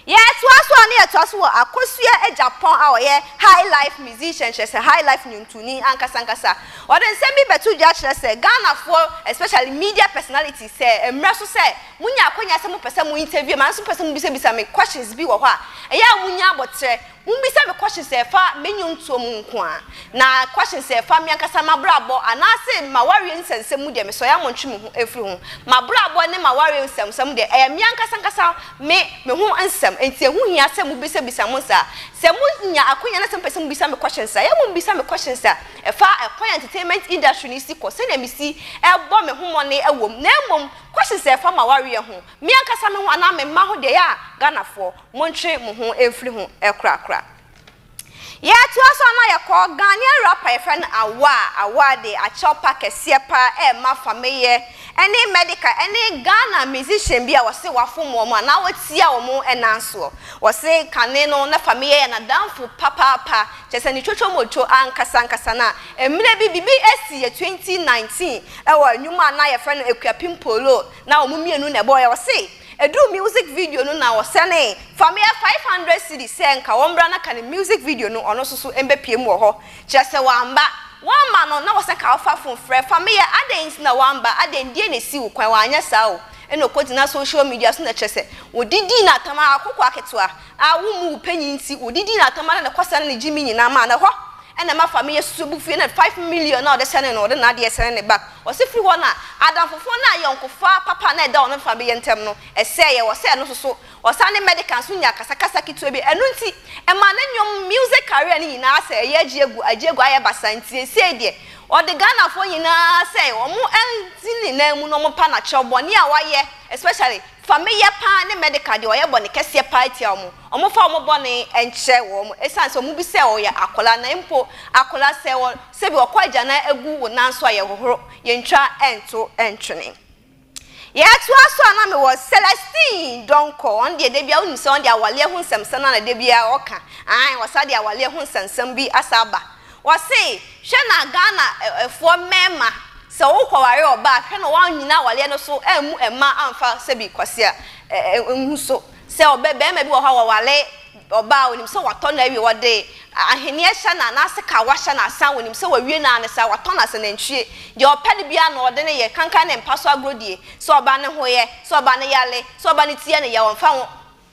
Yɛtoa so a na yɛtoa so wɔ Akosua Agyapong a ɔyɛ highlife musician kyerɛ sɛ highlife nnwontoni ankasa ankasa. Ɔde nsɛm bi bɛto dwa kyerɛ sɛ Ghanafoɔ especially media personalities sɛ ɛmmrɛ so sɛ monya akwanya sɛ mopɛ sɛ mo interview me anaa nso mopɛ sɛ mobisabisa me questions bi wɔ hɔ a ɛyɛ a monya aboterɛ Mummisa me questions a ɛfa me nnwontoɔ mu nko ara, na questions a ɛfa me ankasa m'abrabɔ anaase m'awareɛ nsɛmnsɛm mu deɛ, mesɔre a montwe me ho mfiri ho. M'abrabɔ ne m'awareɛ nsɛmnsɛm deɛ, ɛyɛ me ankasa ankasa me me ho nsɛm, enti ɛho hia sɛ mobisabisa mo saa. Sɛ monya akwanya na sɛ mopɛ sɛ mobisa me questions a, yɛ mommisa me questions a ɛfa kwan a entertainment industry no si kɔ, sɛdeɛ mesi bɔ me ho mmɔne wɔ mu, na mmom questions a ɛfa m'awareɛ ho, me ankasa me ho anaa me mma ho deɛ, yɛ a Ghanafoɔ, Montwe mo ho mfiri ho korakora. Yɛtoa so a na yɛkɔ Ghanaian rapper yɛfrɛ no Awaa. Awaa de akyɛw pa kɛseɛ pa ara rema Fameyɛ ne Medika ne Ghana musician bi a wɔse wafom wɔn anaa watia wɔn nan soɔ. Wɔse kane no na Fameyɛ yɛ n'adamfo papaapa, kyerɛ sɛ ne twotwomotwo ankasa ankasa. Na mmerɛ bi biribi si yɛ 2019 wɔ nnwuma a na yɛfrɛ no Akuapem Polo na wɔn mmienu na ɛbɔeɛ. Wɔse. Ɛduruu music video no na ɔsɛnee fa me yɛ five hundred cedis sɛ nka wɔmmra na ka ne music video no ɔno nso so mbɛpue mu wɔ hɔ kyerɛ sɛ wamma wamma no na ɔsɛ ka ɔfa fon frɛ fa me yɛ adɛn nti na wamma adɛn ntie na ɛsi wo kwan wanyɛ saa o ɛna ɔkɔgyina social media so na kyerɛ sɛ wɔde dii no atam aa akokoa ketewa aa wo mmu wo panyin nti wɔde dii no atam aa na ɛkɔ saa na ne gyimi nyinaa maa no hɔ ɛna ɛma fa me yɛ susu abu fui ɛna five million na ɔde sɛnee no ɔde naadeɛ sɛnee ne ba Ɔse firi hɔ na adamfofoɔ no ayɔnkofa papa no a ɛda wɔn mfefa beyɛ ntɛm no sɛeɛ, wɔsɛ ɛno nso so ɔsan ne Medica nso nyaa kasakasa ketewa bi, ɛno nti ɛmaa ne nnwom music career no nyinaa sɛ ɛyɛ agye agu agye agu ayɛ basaa nti seisei deɛ ɔde Ghanafoɔ nyinaa sɛ wɔn nti ne nan mu no wɔn pa no akyerɛ bɔne a wɔayɛ especially fa me yɛ paa ne Medica deɛ wɔyɛ bɔne kɛseɛ paa tia wɔn, wɔmfa wɔn bɔne nkyerɛ wɔn ɛsiane sɛ wɔn bi sɛ wɔyɛ akwadaa na mpo akwadaa sɛ wɔ. Sɛ bi ɔkɔ agyanan agu wo nan so a yɛ hohoro yɛ ntwa nto ntwene. Yɛ toa so a na me wɔ Celestine Donkor ɔno deɛ dabia wonim sɛ ɔno deɛ awaleɛ ho nsɛmsɛm na na dabia ɔka ae wɔ saa deɛ awaleɛ ho nsɛmsɛm bi asa aba wɔ se hwɛ na Ghana foɔ mɛɛma sɛ wo kɔ ware ɔba a hwɛ na wa nyina awaleɛ no so ammu ɛma amfa sɛbi kwasea nhu so sɛ ɔbɛ bɛɛma bi wɔ hɔ a wɔ wale Ɔbaa a, onim sɛ watɔ no awie, wɔde ahweneɛ hyɛ no a, n'ase ka a wɔahyɛ no asan, onim sɛ wawie no ara ne saa, watɔ no asa, nantwie, deɛ ɔpɛ no biara na ɔde no yɛ, kankan ne mpa so agorɔ die, sɛ ɔba no ho yɛ, sɛ ɔba no yare, sɛ ɔba no ti yɛ no yaw, ɔmfa ho.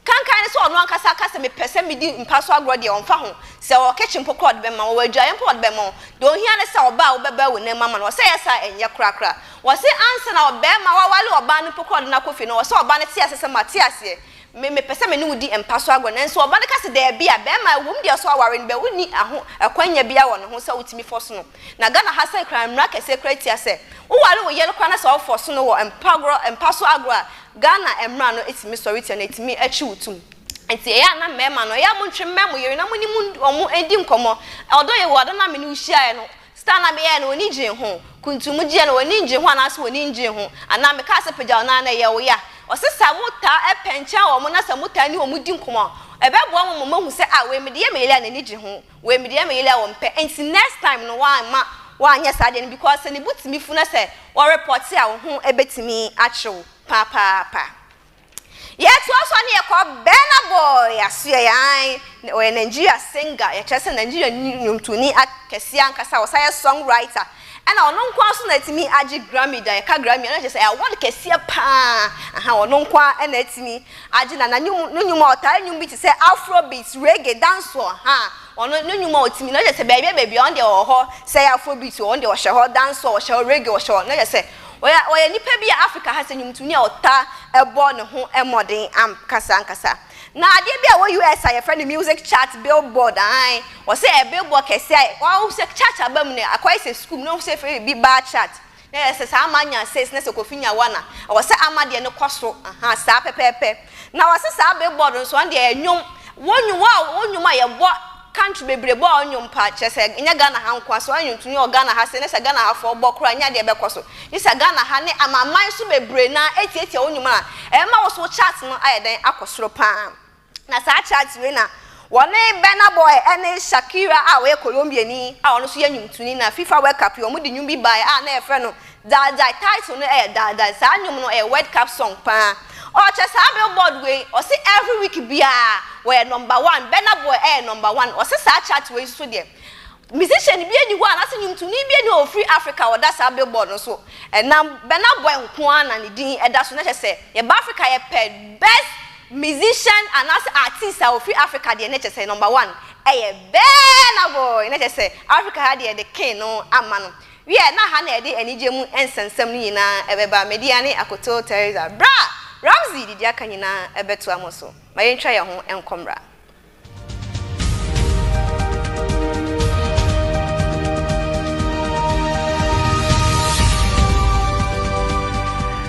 Kankan ne sɛ ɔno ankasa aka sɛ mepɛ sɛ medi mpa so agorɔ deɛ, ɔmfa ho. Sɛ ɔwɔ kitchen mpo koraa ɔde bɛma wo, ɔwɔ adwaeɛ mpo a ɔde bɛma wo. Deɛ ohia ne sɛ ɔbaa a wobɛba awu no mma ma no, ɔse ɛyɛ saa a ɛnyɛ korakora. Wɔse ansa na ɔbarima a waware ɔbaa no mpo koraa ɔde no akɔ fie no, ɔwɔ sɛ ɔba no te aseɛ sɛ mate aseɛ, Me, mepɛ sɛ me ne wo di mpa so agorɔ. Nanso ɔba no ka sɛ, Daabi a, bɛrima a, ɛwom deɛ ɔsɛ ɔaware no, but wonni aho, ɛkwannya biara wɔ ne ho sɛ wotumi fɔso no. Na Ghana ha sɛ koraa mmara kɛseɛ koraa tia sɛ, woware wo yere koraa na sɛ ɔfɔso no wɔ mpa agorɔ, mpa so agorɔ a, Ghana mmara no tumi sɔre tia no, ɛtumi ɛkye wo tum. Nti ɛyɛ a na mmarima no, ɛyɛ a montwe mmɛn mo yere na mo ne mo, wɔn, ɛndi nkɔmmɔ. Although yɛwɔ ada no a me ne wo hyiaeɛ no, Star na meyɛɛ no w'ani gyee ho? Kuntumu gyeɛ no w'ani ngye ho anaase w'ani ngyee ho? Anaa mekaa sɛ pagyaw no aa na ɛyɛ wo ya? Ɔse sɛ motaa ɛpɛnkyɛn wɔn na sɛ motaa ne wɔn di nkɔmɔ a ɛbɛboa mo ma moahu sɛ ah wei mede yɛ me yele a n'ani gye ho wei mede yɛ me yele a ɔmpɛ nti next time no w'amma w'anyɛ saa deɛ no because sɛ ne bo tumi fu na sɛ wɔ report a wo ho bɛtumi akyew papaapa. Yɛtoa so a ne yɛkɔ Burna Boy asoɛe aane na ɔyɛ Nigeria singer yɛ kyerɛ sɛ Nigeria ni nwomtoni a kɛseɛ ankasa ɔsan yɛ song writer ɛna ɔno nko ara nso na atumi agye Grammy da yɛka Grammy a na kyerɛ sɛ ɛyɛ award kɛseɛ paa ahaa ɔno nko ara na atumi agye na na nwom no nwom a ɔtaa nwom bi te sɛ Afrobeat reggae dancehall ahaa ɔno no nwom a ɔtumi na kyerɛ sɛ baabi a baabi a ɔno deɛ ɔwɔ hɔ sɛ ɛyɛ Afrobeat ɔno deɛ ɔhyɛ hɔ dancehall ɔhyɛ hɔ reggae ɔhyɛ hɔ na kyerɛ sɛ Ɔyɛ ɔyɛ nipa bi a Afrika ha sɛ nnwomtoni a ɔtaa bɔ ne ho mmɔden ankasa ankasa. Na adeɛ bi a ɛwɔ US a yɛfrɛ no music chart billboard aane ɔsɛ ɛ billboard kɛseɛ a wahu sɛ chart aba mu no akɔyɛ sɛ sukuu mu na wahu sɛ yɛfrɛ biribi bar chart na ɛyɛ sɛ saa ama anya six na sɛ Kofi nya one a ɛwɔ sɛ ama deɛ no kɔ so ahaa saa pɛpɛɛpɛ na ɔse saa billboard no nso ɔno deɛ ɛyɛ nnwom wɔ nnwom a wɔ nnwom a yɛbɔ Country bebree bɔ ɔnwom paa kyerɛ sɛ nyɛ Ghana ha nkoa so ɔnwonto nyɛ wɔ Ghana ha se ne sɛ Ghana ha foɔ bɔ koraa nyɛ adeɛ ɛbɛkɔ so gye sɛ Ghana ha ne amanman so bebree no ara ɛtiatia wo nwom a ɛbɛma wo so wo chart no ayɛ dɛn akɔ soro paa na saa chart wei na wɔne Burna Boy ɛne Shakira a ɔyɛ Colombiani a ɔno nso yɛ nwomtoni na FIFA World Cup yi wɔn de nwom bi baeɛ a na yɛfrɛ no Daagyae, title no yɛ Daagyae, saa nnwom no yɛ World Cup song paa. Ɔrekyɛ saa Billboard wei, ɔse every week biara wɔyɛ number one, Burna Boy yɛ number one, ɔse saa chart wei nso deɛ musician biara nni hɔ anaasɛ nnwomtoni biara nni hɔ a ɔfiri Africa a ɔda saa Billboard no so, ɛnam Burna Boy nko ara na ne din da so, na kyerɛ sɛ yɛba Africa yɛpɛ best musician anaasɛ artist a ɔfiri Africa deɛ na kyerɛ sɛ number one yɛ Burna Boy, na kyerɛ sɛ Africa ha deɛ yɛde king no ama no. Wiɛ, na ha na ɛde anigye mu nsɛmnsɛm no nyinaa bɛba, Media ne akoto Teresa, bere a Ramsey de di aka nyinaa bɛtoa mo so. Ma yentwa yɛn ho nkɔ mmra.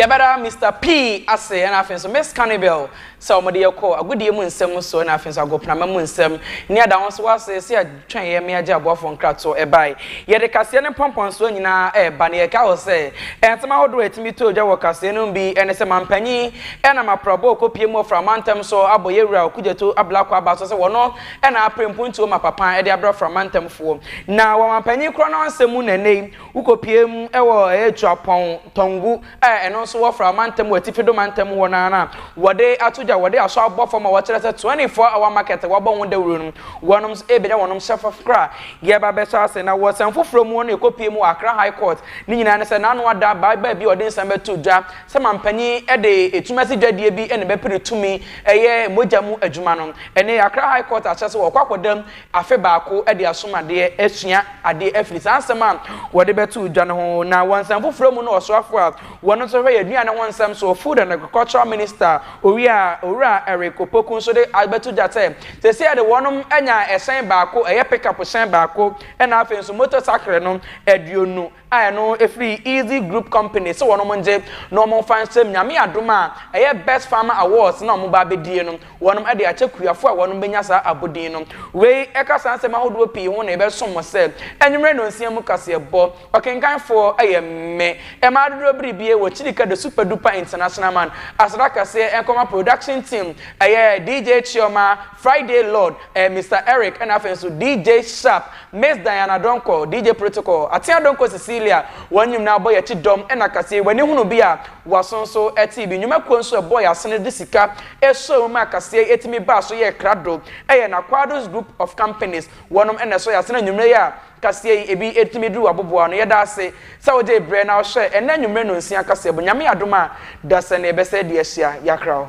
Yɛbɛda Mister P ase ɛna afei nso Miss Cannibal sɛ wɔn de yɛ kɔ agodie mu nsɛm mu so ɛna afei nso agoprama mu nsɛm ne ada wɔn so wɔ ase esi atwɛn yɛ mmea gye aboafo nkrato ɛbae. Yɛde kaseɛ ne mpɔmpɔnsoɔ nyinaa ɛreba na yɛkae wɔ sɛ nsɛm ahodoɔ a ɛtumi to dwa wɔ kaseɛ no mu bi ɛne sɛ Mampanyin ɛnam aprabɔ a ɔkɔpie mu ɔforo amantam so abɔ yɛn Wura Okudzeto Ablakwa Aba so sɛ wɔno na apere mpontuo ma papa de abrɛ Afra mantamfoɔ. Na wɔ amanpanin korɔ no ara nsɛm mu na ɛnnɛ yi wokɔpue mu wɔ Atuapɔn, Tɔngu a ɛno nso wɔ Fra mantam wɔ Atifi do mantam mu hɔ no ara no a wɔde ato dwa, wɔde asɔ abɔ fam a wɔkyerɛ sɛ 24 hour market a wɔabɔ ho dawuro no wɔnom nso ɛrebɛnya wɔnom hyɛ fam kra. Yɛba abɛhyɛ ase na wɔ nsɛm foforɔ mu no yɛkɔpue mu wɔ Accra High Court, ne nyinaa ne sɛ n'ano ada ababaa bi a ɔde nsɛm bɛto dwa, sɛ manpanin de ɛtumi ase dwadie bi na bɛpere tumi ɛyɛ mogya mu adwuma no ɛnɛ Accra High Court akyerɛ sɛ wɔkɔ akɔda mu afe baako de asom adeɛ asua adeɛ afiri saa nsɛm a wɔde bɛto dwa no ho na wɔ nsɛm foforɔ mu no ɔsoafoɔ a wɔn nso hwɛ yɛ aduane ho nsɛm soɔ Food and Agricultural Minister Owia Owura Eric Opoku nso de abɛto dwa sɛ seesei de wɔnom anya ɛhyɛn baako ɛyɛ pick up hyɛn baako ɛna afei nso motor sakre no aduonu a ɛno ɛfiri Easy Group Company sɛ wɔnom ngye na wɔn mfa nhyɛ mu Nyame adom a ɛyɛ Best Farmer Awards no a wɔn ba abɛdie no wɔnom de akyɛ Kuyafoɔ a wɔnom bɛnya saa abodin no Wei ɛka saa nsɛm ahodoɔ pii ho na yɛbɛsom mo sɛ anwummerɛ nnɔnsia mu kaseɛbɔ Ɔkenkanfoɔ yɛ me mma Adodorɔ Biribie wɔ Chilika The Super Duper International Man Aseda kɛseɛ nkɔma Production Team ɛyɛ DJ Chioma, Friday Lord, Mister Eric ɛna afei nso DJ Sharp Miss Diana Donkor, DJ Protocol, Atea Donkor Cecilia, wɔn nyimnaa bɔ yɛn kyi dɔm na kaseɛ yi w'ani hunu bi a w'aso nso tee bi, nnwuma kuo nso ɛbɔɔ yɛn asene de sika sɔɔ mu maa kaseɛ yi ɛtumi baa so yɛɛ krado ɛyɛ na Quadros Group of Companies wɔnom na ɛsɔ yɛn asene anwummerɛ yi a kaseɛ yi ɛbi ɛtumi duru w'aboboa ano yɛda ase sɛ wogyee berɛ na wohwɛɛ ɛnnɛ anwummerɛ nonsia kaseɛ bo Nyame adom a dasani ɛbɛsɛ de ahyia yɛakra wo.